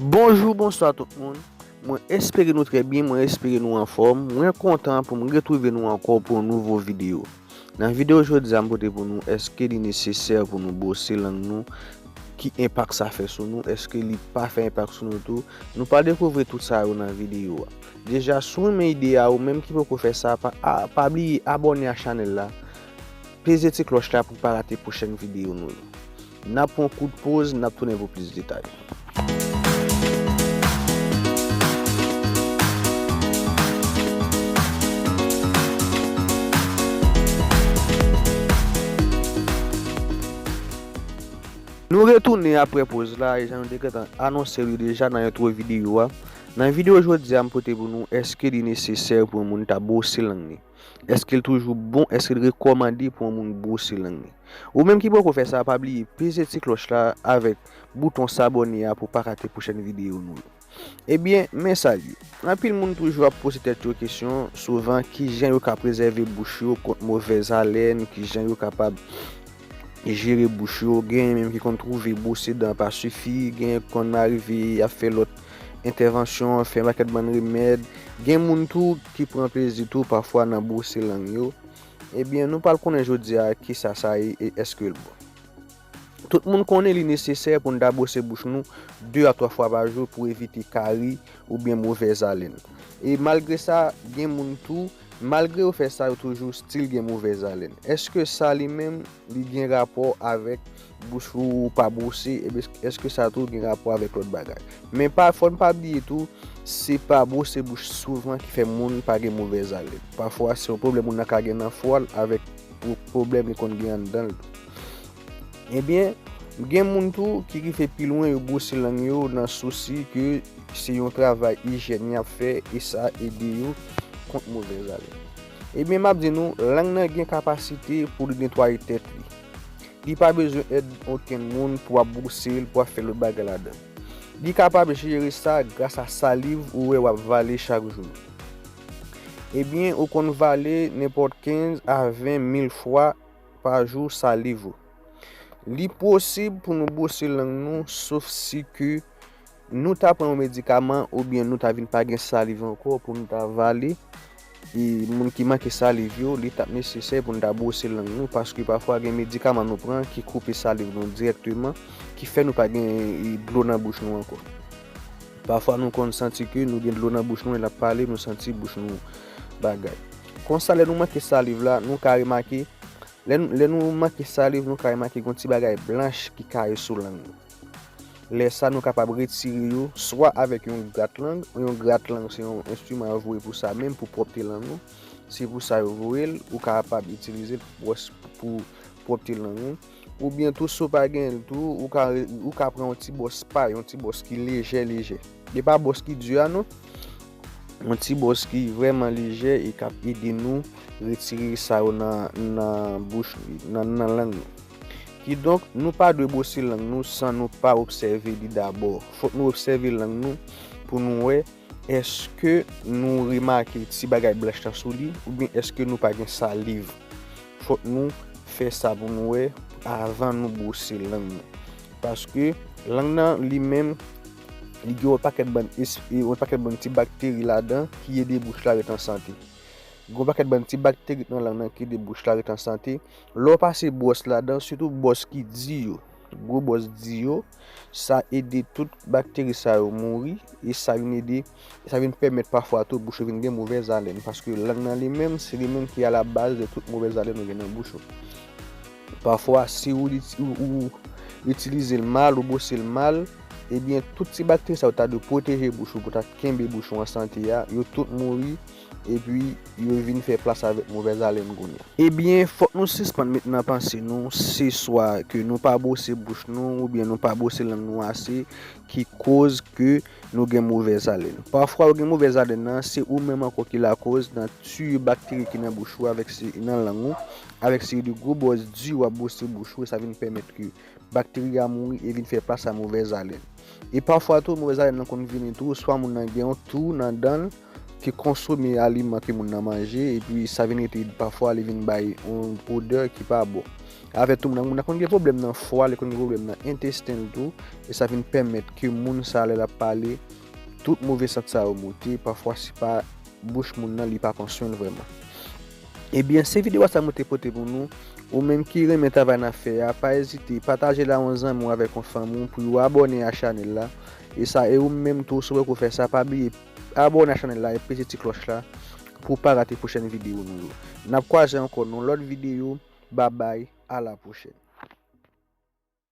Bonjou bonswa tout moun mwen espere nou trè byen mwen espere nou anfòm mwen kontan pou m retwouve nou ankò pou yon nouvo videyo nan videyo jodi a m pote pou nou èske li nesesè pou nou bwose lang nou ki enpak sa fè sou nou èske li pa fè enpak sou nou tou nou pral dekouvri tout sa yo nan videyo a deja si w renmen ide a ou menm ki poko fè sa pa bliye abòne a chanèl la peze ti klòch la pou pa rate pwochèn videyo nou yo N ap pran yon kout poz, n ap tounen pou plis detay. Nou retounen apre poz la e jan nou te gentan anonse li deja nan entwo videyo a, nan videyo jodi a m pote pou nou èske li nesesè pou yon moun ta bwose lang ni. Eske l toujou bon, eske l rekòmande pou yon moun bwose lang li? Ou menm ki poko fè sa pa bliye peze ti klòch la avèk bouton sabòne a pou w pa rate pwochèn videyo nou yo. Ebyen men sa l ye, anpil moun toujou ap poze tèt yo kesyon souvan kijan yo ka prezève bouch yo kont movèz alèn, kijan yo kapab jere bouch yo, genyen menm ki konn twouve bwose dan pa sifi, genyen ki konn arive y ap fè lòt entèvansyon, fè yon pakèt bann remèd, gen moun tou. ki pran plezi tou pafwa nan bwose lang yo, ebyen nou pral konnen jodi a kisa sa ye e èske l bon. Tout moun konnen li nesesè pou n ta bwose bouch nou 2 a 3 fwa pa jou pou evite kari oubyen movèzalen. E malgre sa, gen moun tou, malgre yo fè sa yo toujou stil gen movèzalen. Èske sa li menm li gen rapò avèk Bouch ou pa bwose, èske sa tou gen rapò avèk lòt bagay? Men pa, fò n pa bliye tou, se pa bwose bouch souvan ki fè moun pa gen movèz alèn. Pafwa se yon pwoblèm moun nan ka gen nan fwa l avèk pwoblèm li konn gen anndan l tou. Ebyen, gen moun tou ki rive pi lwen yo bwose lang yo nan sousi ke se yon travay ijyèn y ap fè e sa ede yo kont movèz alèn. Ebyen m ap di nou, lang nan gen kapasite pou li netwaye tèt li. Li pa bezwen èd okenn moun pou ap bwose l, pou ap fè lòt bagay ladan. Li kapab jere sa grasa saliv ou wè w ap vale chak jou. Ebyen, ou konn vale nenpòt 15 a 20 mil fwa pa jou saliv ou. Li posib pou nou bwose lang nou sof si ke Nou ta pran yon medikaman oubyen nou ta vin pa gen saliv ankò pou nou ta vale. E moun ki manke saliv yo, li tap nesesè pou nou ta bwose lang nou paske pafwa gen medikaman nou pran ki koupe saliv nou dirèkteman ki fè nou pa gen dlo nan bouch nou ankò. Pafwa nou konn santi ke nou gen dlo nan bouch nou lè nap pale, nou santi bouch nou bagay. Konsa lè nou manke saliv la, nou ka remake, lè nou manke saliv nou ka remake gon ti bagay blanch ki kare sou lang nou. Lè sa nou kapab retire yo swa avèk yon grat lang, yon grat lang se yon enstriman yo voye pou sa menm pou pwòpte lang ou, se pou sa yo voye l, ou kapab itilize l pou pwòpte lang ou, oubyen tou si w pa gen l tou ou ka pran yon ti bwòs pay, yon ti bwòs ki lejè lejè, e pa bwòs ki di a non, yon ti bwòs ki vrèman lejè e k ap ede nou retire sa yo nan bouch, nan lang nou. Kidonk, nou pa dwe bwosi lang nou san nou pa obsève li dabò. Fòk nou obsève lang nou pou nou wè èske nou remake ti bagay blanch lan sou li oubyen èske nou pa gen saliv. Fòk nou fè sa pou nou wè avan nou bwose lang nou. Paske, lang nan li menm, li gen yon pakèt bann espi, yon pakèt bann ti bakteri ladan ki ede bouch la ret an sante. Gen yon pakèt bann ti bakteri ki nan lang nan ki ede bouch la ret an sante. Lè w pase bwòs la dan, sitou bwòs ki di yo, gwo bwòs di yo, sa ede tout bakteri sa yo mouri e sa vin ede, sa vin pèmèt pafwa tou bouch ou vin gen movèz alèn paske lang nan li menm, se li menm ki alabaz de tout movèz alèn ou gen nan bouch ou. Pafwa si ou itilize l mal, ou bwose l mal, ebyen tout ti bakteri sa yo ta dwe pwoteje bouch ou pou ta kenbe bouch ou an sante a, yo tout mouri Epi yo vin fè plas avèk movèz alèn kounya. Ebyen fòk nou sispann met nan panse nou se swa ke nou pa bwose bouch nou oubyen nou pa bwose lang nou ase ki koz ke nou gen movèz alèn. Pafwa ou gen movèz alèn nan se ou menm ankò ki lakoz nan tiye bakteri ki nan bouch ou avèk nan lang ou avèk seri de gwo bwòs di wap bwose bouch ou e sa vin pèmèt ke bakteri a mouri e vin fè plas a movèz alèn. E pafwa tou movèz alèn nan konn vini tou swa moun nan gen yon tou nan dan l, ki konsome aliman ke moun nan manje epi sa vin rete pafwa li vin bay yon odè ki pa bon. Avè tou moun nan konn gen pwoblèm nan fwa, li konn gen pwoblèm nan entesten l tou e sa vin pèmèt ke moun sa lè l ap pale tout move sant sa yo moute pafwa se pa bouch moun nan li pa pran swen l vrèman. Ebyen se videwa sa mwen te pote pou nou, ou menm ki renmen travay n ap fè a pa ezite pataje l a yon zanmi w avèk yon fanmi w pou yo abòne a chanèl la e sa e ou menm tou si w wè ke w fè sa pa bliye Abòne a chanèl la e peze ti klòch la pou w pa rate pwochèn videyo nou yo. Nap kwaze ankò nan yon lòt videyo, babay, a la pwochèn.